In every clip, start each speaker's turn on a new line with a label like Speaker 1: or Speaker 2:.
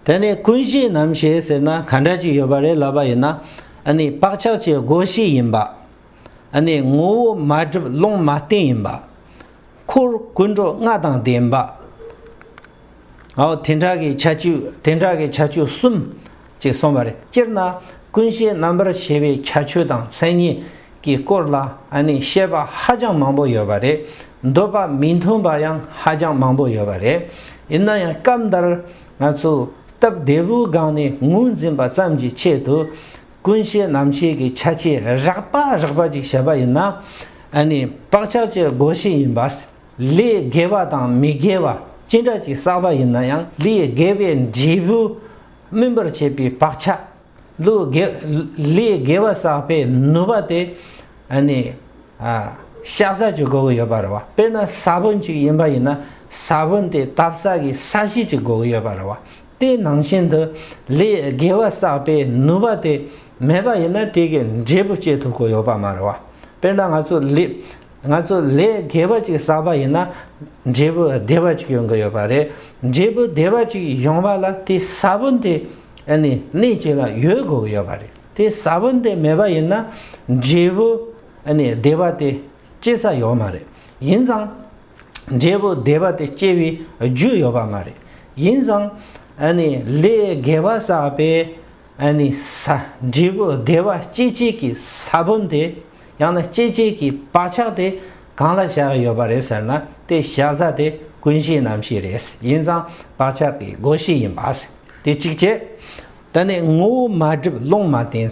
Speaker 1: དེ་ནས་ཀུན་གཞིའི་ནམ་ཞེས་ཟེར་ན་ག་འདྲ་ཅིག་ཡོད་པ་རེད་ལབ་པ་ཡིན་ན། ཨ་ནི་བག་ཆགས་ཀྱི་སྒོ་བཞི་ཡིན་པ། ཨ་ནི་ངོ་བོ་མ་བསྒྲིབས་ཀློང་མ་བརྟན་ཡིན་པ། འཁོར་ཀུན་འགྲོ་ལྔ་དང་ལྡན་པ། དེ་འདྲ་གི་ཆ་བཅུ་དེ་འདྲ་གི་ཆ་བཅུ་གསུམ། ཅིག་སོང་བ་རེད། སྤྱིར་ན་ཀུན་གཞིའི་རྣམ་པར་ཤེས་པའི་ཁྱད་ཆོས་དང་མཚན་ཉིད་ཀྱི་སྐོར་ལ་ནི་བཤད་པ་ཧ་ཅང་མང་པོ་ཡོད་པ་རེད། འདོད་པ་མི་མཐུན་པ་ཡང་ཧ་ཅང་མང་པོ་ཡོད་པ་རེད། ཡིན་ན་ཡང་སྐབས་འདིར་ང་ཚོས་སྟབས་བདེ་བོའི་སྒང་ནས་ངོས་འཛིན་པ་ཙམ་གྱི་ཆེད་དུ། ཀུན་གཞིའི་རྣམ་ཤེས་ཀྱི་ཁྱད་ཆོས་རགས་པ་རགས་པ་ཅིག་བཤད་པ་ཡིན་ན་ནི་བག་ཆགས་ཀྱི་སྒོ་ཕྱེ་ཡིན་པ་ལས་དགེ་བ་དང་མི་དགེ་བ་ཅི་འདྲ་ཅིག་བསགས་པ་ཡིན་ན་ཡང་ལས་དགེ་བའི་འབྲས་བུ་སྨིན་པར་བྱེད་པའི་བག་ཆགས། ལུས་དགེ། ལུས་དགེ་བ་བསགས་པའི་ནུས་པ་དེ། ནི། བཤགས་བཟའ་གྱི་སྒོ་བུ་ཡོད་པར་རོ། དཔེར་ན་ས་བོན་ཅིག་ཡིན་པ་ཡིན་ན། ས་བོན་དེ་བཏབ་བསགས་ཀྱི་ས་གཞི་གཅིག་སྒོ་བུ་ཡོད་པར་རོ། དེའི་ནང་བཞིན་དུ། ལུས་དགེ་བ་བསགས་པའི་ནུས་པ་དེ། མེད་པ་ཡིན་ན་དེ་གའི་འབྲས་བུ་སྐྱེ་ཐུབ་སྒོ་ཡོད་པར་མ་རོ། དཔེར་ན་ང་ཚོ། ང་ཚོ་ལས་དགེ་བ་གཅིག་བསགས་པ་ཡིན་ན་འབྲས་བུ་བདེ་བ་གཅིག་ཡོང་གི་ཡོད་པ་རེད། འབྲས་བུ་བདེ་བ་གཅིག་ཡོང་བ་ལ་དེ་ས་བོན་དེ་གནས་གཅིག་ལ་ཡོད་དགོས་ཀྱི་ཡོད་པ་རེད། དེ་ས་བོན་དེ་མེད་པ་ཡིན་ན་འབྲས་བུ་བདེ་བ་དེ་སྐྱེ་ས་ཡོད་མ་རེད། ཡིན་ཙང་འབྲས་བུ་བདེ་བ་དེ་སྐྱེ་བའི་རྒྱུ་ཡོད་པ་མ་རེད། ཡིན་ཙང་ལས་དགེ་བ་བསགས་པའི་ས་འབྲས་བུ་བདེ་བ་སྐྱེ་བྱེད་ཀྱི་ས་བོན་དེ་ཡང་ན་སྐྱེད་བྱེད་ཀྱི་བག་ཆགས་དེ་གང་ལ་བཞག་ཡོད་པ་རེད་ཟེར་ན་དེ་བཞག་ས་དེ་ཀུན་གཞི་རྣམ་ཤེས་རེད་ཡིན་ཙང་བག་ཆགས་ཀྱི་སྒོ་ཤེས་ཡིན་པ་དེ་གཅིག་བྱས། ད་ནི་ངོ་བོ་མ་བསྒྲིབས་ཀློང་མ་བསྟན།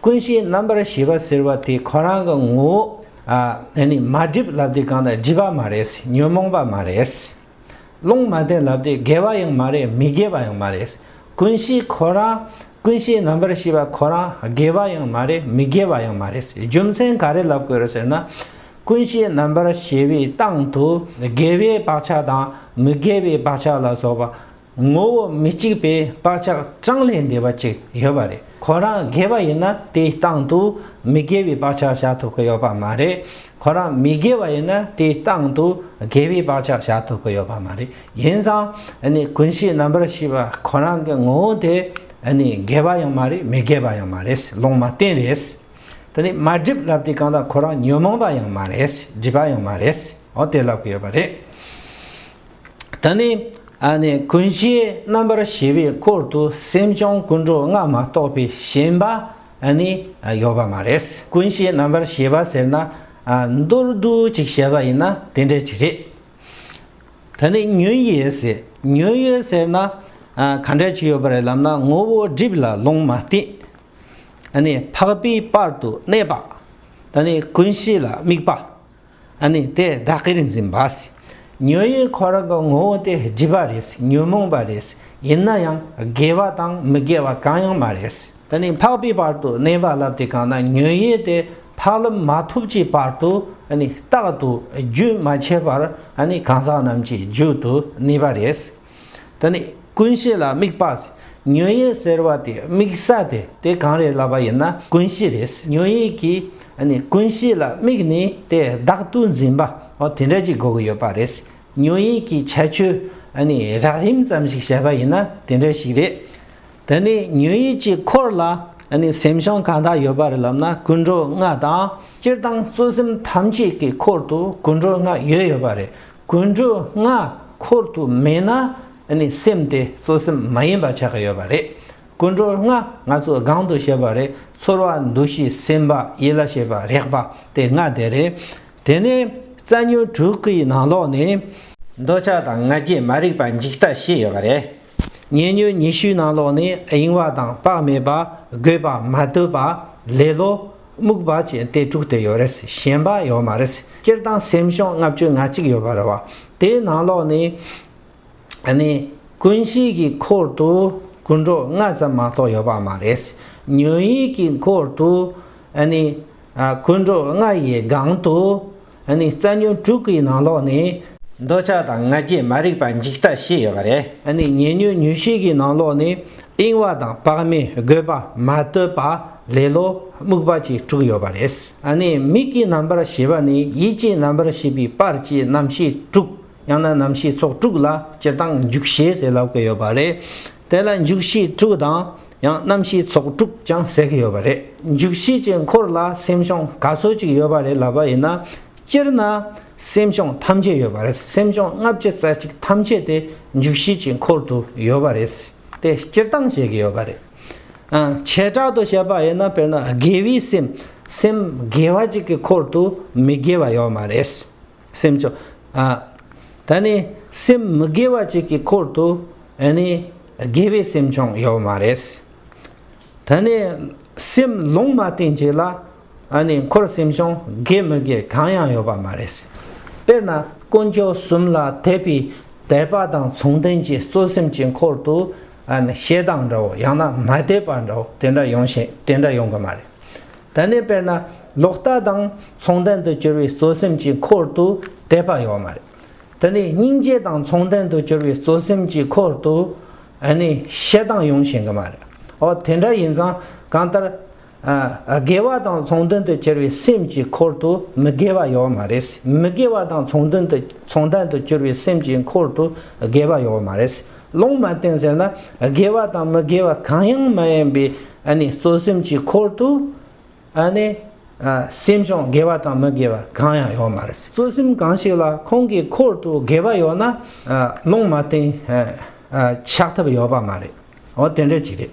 Speaker 1: ཀུན་གཞིའི་རྣམ་པར་ཤེས་པ་ཟེར་བ་དེ་ཁོ་རང་གི་ངོ་བོ། ནི་མ་བསྒྲིབས་ལབ་དེ་གང་དང་བསྒྲིབས་པ་མ་རེད་ཉོན་མོངས་པ་མ་རེད། ལུང་མ་བསྟན་ལབ་སྟེ་དགེ་བ་ཡང་མ་རེད་མི་དགེ་བ་ཡང་མ་རེད། ཀུན་གཞི་ཁོ་རང་ཀུན་གཞིའི་རྣམ་པར་ཤེས་པ་ཁོ་རང་དགེ་བ་ཡང་མ་རེད་མི་དགེ་བ་ཡང་མ་རེད། རྒྱུ་མཚན་ག་རེ་ལབ་དགོས་རེད་ཟེར་ན། ཀུན་གཞིའི་རྣམ་པར་ཤེས་པའི་སྟེང་དུ་དགེ་བའི་བག་ཆགས་དང་མི་དགེ་བའི་བག་ཆགས་ལ་སོགས་པ་ངོ་བོ་མི་གཅིག་པའི་བག་ཆགས་གྲངས་ལས་འདས་པ་ཅིག་ཡོད་པ་རེད་ཁོ་རང་དགེ་བ་ཡིན་ན་དེའི་སྟངས་དུ་མི་དགེ་བའི་བག་ཆགས་བཞག་ཐུབ་ཀི་ཡོད་པ་མ་རེད་ཁོ་རང་མི་དགེ་བ་ཡིན་ན་དེའི་སྟངས་དུ་དགེ་བའི་བག་ཆགས་བཞག་ཐུབ་ཀི་ཡོད་པ་མ་རེད་ཡིན་ཙང་ཀུན་གཞི་རྣམ་པར་ཤེས་པ་ཁོ་རང་གི་ངོ་བོ་དེ་དགེ་བ་ཡང་མ་རེད་མི་དགེ་བ་ཡང་མ་རེད་ལོང་མ་བསྟན་རེད་དེ་ནི་མ་སྒྲིབ་ལབ་དེ་གང་ལྟར་ཁོ་རང་ཉོན་མོངས་པ་ཡང་མ་རེད་སྒྲིབ་པ་ཡང་མ་རེད་འོ་དེ་ལབ་ཀི་ཡོད་པ་རེད། ད་ནི་ཀུན་གཞིའི་རྣམ་པར་ཤེས་པའི་སྐོར་དུ་སེམས་བྱུང་ཀུན་འགྲོ་ལྔ་མ་གཏོགས་པའི་ཞེན་པ་ནི་ཡོད་པ་མ་རེད། ཀུན་གཞིའི་རྣམ་པར་ཤེས་པ་ཟེར་ན་མདོར་བསྡུས་གཅིག་བཤད་པ་ཡིན་ན་དེ་འདྲ་ཅིག་རེད། ད་ནི་ཉོན་ཡོད་ཟེར། ཉོན་ཡོད་ཟེར་ན་ག་འདྲ་ཅིག་ཡོད་པ་རེད་ལབ་ན་ངོ་བོ་སྒྲིབ་ལ་ལུང་མ་བསྟན། འཕགས་པའི་བར་དུ་གནས་པ། ད་ནི་ཀུན་གཞི་ལ་དམིགས་པ། ཨ་ནི་དེ་བདག་གིར་འཛིན་པ། ཉོན་ཡིད་འཁོར་བའི་ངོ་བོ་སྟེ་བརྗིད་པ་རེད་ཉོན་མོངས་པ་རེད་ཡིན་ན་ཡང་དགེ་བ་དང་མི་དགེ་བ་གང་ཡང་མ་རེད། དེ་ནས་འཕགས་པའི་བར་དུ་གནས་པ་ལབ་དེ་གང་ན་ཉོན་ཡིད་དེ་འཕགས་ལམ་མ་ཐོབ་ཀྱི་བར་དུ་ཨ་ནི་རྟག་ཏུ་རྒྱུན་མ་ཆད་པར་ཨ་ནི་གང་ཟག་རྣམས་ཀྱི་རྒྱུད་དུ་གནས་པ་རེད། ད་ནི་ཀུན་གཞི་ལ་དམིགས་པ་ཉོན་ཡིད་ཟེར་བ་དེ་དམིགས་ས་དེ་དེ་གང་རེད་ལབ་པ་ཡིན་ན་ཀུན་གཞི་རེད་ཉོན་ཡིད་ཀྱི་ཀུན་གཞི་ལ་དམིགས་ནས་དེ་བདག་ཏུ་འཛིན་པ་དེ་འདྲ་གྱི་འགོག་ཡོད་པ་རེད་ཉོན་ཡིད་ཀྱི་ཁྱད་ཆོས་རགས་རིམ་ཙམ་ཞིག་བཤད་པ་ཡིན་ན་དེ་འདྲ་ཞིག་རེད། ད་ནི་ཉོན་ཡིད་ཀྱི་འཁོར་ལ་སེམས་བྱུང་གང་དག་ཡོད་པ་རེད་ལབ་ན་ཀུན་འགྲོ་ལྔ་དང། སྤྱིར་བཏང་གཙོ་སེམས་ཐམས་ཅད་ཀྱི་འཁོར་དུ་ཀུན་འགྲོ་ལྔ་ཡོད་ཡོད་པ་རེད། ཀུན་འགྲོ་ལྔ་འཁོར་དུ་མེད་ན་ནི་སེམས་དེ་གཙོ་སེམས་མ་ཡིན་པ་ཆགས་ཀྱི་ཡོད་པ་རེད། ཀུན་འགྲོ་ལྔ་ང་ཚོས་སྒང་དུ་བཤད་པ་རེད་ཚོར་བ་འདུ་ཤེས་སེམས་པ་ཡིད་ལ་བྱེད་པ་རེག་པ་དེ་ལྔ་དེ་རེད། དེ་ནས་རྩ་ཉོན་དྲུག་གི་ནང་ལོགས་ནས། འདོད་ཆགས་དང་ང་རྒྱལ་མ་རིག་པ་འཇིག་ལྟ་ཞེས་ཡོད་པ་རེད། ཉེ་སྙོལ་ཉི་ཤུའི་ནང་ལོགས་ནས་གཡེང་བ་དང་དཔག་མེད་པ་རྒོད་པ་མ་དོད་པ་ལེ་ལོ་རྨུགས་པ་བཅས་ཏེ་དྲུག་དེ་ཡོད་རེད་གཞན་པ་ཡོད་མ་རེད་སྤྱིར་བཏང་སེམས་གཤོངས་ལྔ་བཅུ་ང་གཅིག་ཡོད་པ་རེད་བ་དེའི་ནང་ལོགས་ནས་ནི་ཀུན་གཞིའི་གི་འཁོར་དུ་རྒུན་འབྲོག་ལྔ་ཙམ་མ་གཏོགས་ཡོད་པ་མ་རེད་ཉོན་ཡིད་ཀྱི་འཁོར་དུ་ནི་རྒུན་འབྲོག་ལྔ་ཡི་སྒང་དུ་ཨ་ནི་རྩ་ཉོན་དྲུག་གི་ནང་ལོགས་ནི། འདོད་ཆགས་དང་ང་རྒྱལ་མ་རིག་པ་འཇིག་ལྟ་བཞི་ཡོད་པ་རེད། ཨ་ནི་ཉེ་ཉོན་ཉུལ་ཤེས་ཀྱི་ནང་ལོགས་ནི། གཡེང་བ་དང་བག་མེད་རྒོད་པ་མ་བསྟོད་པ་ལེ་ལོ་རྨུགས་པ་བཅས་དྲུག་ཡོད་པ་རེད། ཨ་ནི་མིག་གི་རྣམ་པར་ཤེས་པ་ནི་ཡིད་ཀྱི་རྣམ་པར་ཤེས་པའི་པར་གྱི་རྣམ་ཤེས་དྲུག་ཡང་ན་རྣམ་ཤེས་ཚོགས་དྲུག་ལ་སྤྱིར་བཏང་འཇུག་ཤེས་ཟེར་ལབ་ཀི་ཡོད་པ་རེད། དེ་ལ་འཇུག་ཤེས་དྲུག་དང། ཡང་གནམ་གཤིས་ཚོགས་དྲུག་ཀྱང་ཟེར་གྱི་ཡོད་པ་རེད། འཇུག་ཤེས་ཀྱི་འཁོར་ལ་སེམས་གཤོང་ག་ཚོད་ཅིག་ཡོད་པ་རེད་ལབ་པ་ཡིན་ན། སྤྱིར་ན་སེམས་གཤོང་ཐམས་ཅད་ཡོད་པ་རེད་སེམས་གཤོང་ལྔ་བརྒྱ་རྩ་གཅིག་ཐམས་ཅད་དེ་འཇུག་ཤེས་ཀྱི་འཁོར་དུ་ཡོད་པ་རེད་དེ་སྤྱིར་བཏང་བཤད་གི་ཡོད་པ་རེད། བྱེ་བྲག་ཏུ་བཤད་པ་ཡིན་ན་དཔེར་ན་དགེ་བའི་སེམས་སེམས་དགེ་བ་གཅིག་གི་འཁོར་དུ་མི་དགེ་བ་ཡོད་མ་རེད། སེམས་བྱུང། ད་ནི་སེམས་མི་དགེ་བ་གཅིག་གི་འཁོར་དུ་དགེ་བའི་སེམས་བྱུང་ཡོད་མ་རེད། ད་ནི་སེམས་ལུང་མ་བསྟན་གཅིག་ལ་འཁོར་སེམས་བྱུང་དགེ་མི་དགེ་གང་ཡང་ཡོད་པ་མ་རེད། དཔེར་ན་དཀོན་མཆོག་གསུམ་ལ་དད་པའི་དད་པ་དང་མཚུངས་ལྡན་གྱི་གཙོ་སེམས་ཀྱི་འཁོར་དུ་ཞེ་སྡང་འདྲའོ་ཡང་ན་མ་དད་པ་འདྲའོ་དེ་འདྲ་ཡོང་གི་མ་རེད། དེ་ནས་དཔེར་ན་ལོག་ལྟ་དང་མཚུངས་ལྡན་དུ་གྱུར་པའི་གཙོ་སེམས་ཀྱི་འཁོར་དུ་དད་པ་ཡོད་མ་རེད། དེ་ནས་སྙིང་རྗེ་དང་མཚུངས་ལྡན་དུ་གྱུར་པའི་གཙོ་སེམས་ཀྱི་འཁོར་དུ་ནི་ཞེ་སྡང་ཡོང་བཞིན་གི་མ་རེད། འོ་དེ་འདྲ་ཡིན་ཙང་གང་ལྟར། དགེ་བ་དང་མཚུངས་ལྡན་དུ་གྱུར་པའི་སེམས་ཀྱི་འཁོར་དུ་མི་དགེ་བ་ཡོད་མ་རེད། མི་དགེ་བ་དང་མཚུངས་ལྡན་དུ་མཚུངས་ལྡན་དུ་གྱུར་པའི་སེམས་ཀྱི་འཁོར་དུ་དགེ་བ་ཡོད་མ་རེད། ལོང་མ་བསྟན་ཟེར་ན་དགེ་བ་དང་མི་དགེ་བ་གང་ཡང་མ་ཡིན་པའི་གཙོ་སེམས་ཀྱི་འཁོར་དུ་སེམས་བྱུང་དགེ་བ་དང་མི་དགེ་བ་གང་ཡང་ཡོད་མ་རེད། གཙོ་སེམས་གང་ཞིག་ལ་ཁོང་གི་འཁོར་དུ་དགེ་བ་ཡོད་ན་ལོང་མ་བསྟན་ཆགས་ཐབས་ཡོད་པ་མ་རེད། འོ་དེ་འདྲ་ཅིག་རེད།